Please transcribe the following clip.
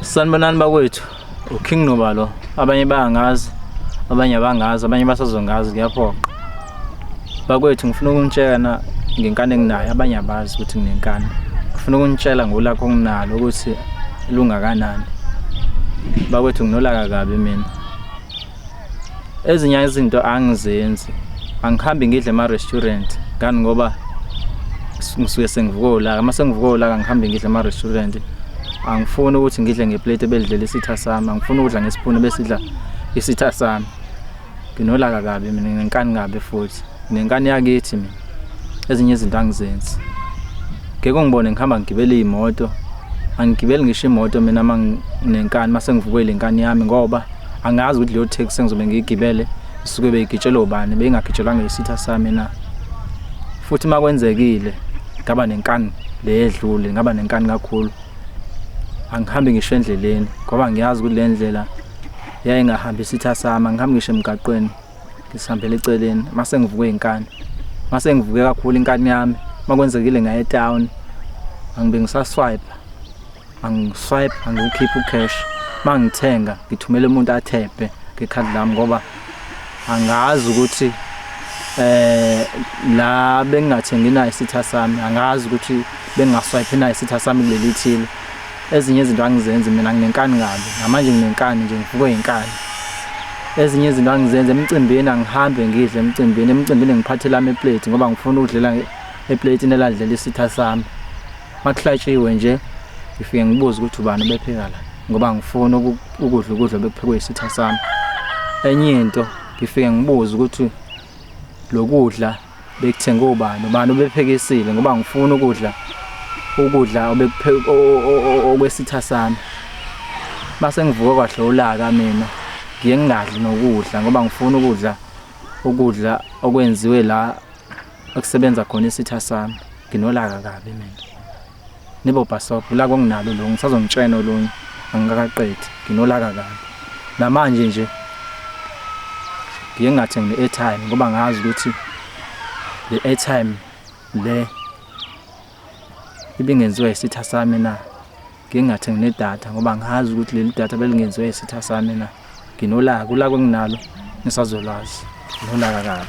Sanibonani bakwethu uKing Noba lo abanye bayangazi abanye abangazi abanye basazongazi kuyaphoqa bakwethu ngifuna ukunitshela ngenkani enginayo abanye abazi ukuthi nginenkani ngifuna ukunitshela ngolakho nginalo ukuthi lungakanani bakwethu nginolaka kabi mina ezinye izinto angizenzi angihambi ngidle ema-restaurant ngani ngoba ngisuke sengivuka ulaka uma sengivuka ulaka ngihambe ngidle ema-restaurant angifuni ukuthi ngidle ngeplate ebelidlela isitha sami angifuni ukudla ngesipuni besidla isitha sami nginolaka kabi mina nginenkani kabi futhi nginenkani yakithi mina ezinye izinto angizenzi ngeke ngibone ngihamba ngigibele iy'moto angigibeli ngisho imoto mina uma nginenkani uma sengivuke le nkani yami ngoba angazi ukuthi leyo taxi engizobe ngiyigibele isuke beyigitshelwe ubani beyingagitshelwanga isitha sami na futhi uma kwenzekile ngaba nenkani le edlule ngaba nenkani kakhulu angihambi ngisho endleleni ngoba ngiyazi ukuthi le ndlela yayingahambi isitha sami angihambi ngisho emgaqweni ngisihambela eceleni mase ngivuke inkani mase ngivuke kakhulu inkani yami makwenzekile ngaye town angibe ngisaswipe angiswipe angiwukhipha ucash mangithenga ngithumela umuntu athebhe ngekhadi lami ngoba angazi ukuthi eh la bengingathengi nayo isitha sami angazi ukuthi bengingaswipe nayo isitha sami kuleli thile Ezinye izinto angizenzi mina nginenkani kabi. Namanje nginenkani nje ngivukwe yinkani. Ezinye izinto angizenzi emcimbini angihambe ngidle emcimbini. Emcimbini ngiphathela ama plate ngoba ngifuna ukudlela eplate neladlela isitha sami. Makuhlatshiwe nje ngifike ngibuze ukuthi ubani obepheka la ngoba ngifuna ukudla ukudla bekuphekwe isitha sami. Enye into ngifike ngibuze ukuthi lokudla Bekuthenge ubani ubani obephekisile ngoba ngifuna ukudla ukudla okwesitha sami. Mase ngivuke kwahle ulaka mina ngiye ngingadli nokudla ngoba ngifuna ukudla ukudla okwenziwe la okusebenza khona isitha sami. Nginolaka kabi mina. Nibo bhasobho la konginalo lo ngisazomtshena olunye angikakaqedi nginolaka kabi. Namanje nje ngiye ngathengi i-airtime ngoba ngazi ukuthi le airtime le ibingenziwa isitha sami na ngingathengi nedatha ngoba ngazi ukuthi leli datha belingenziwa isitha sami na nginolaka ulaka enginalo ngisazolwazi nginolaka kabi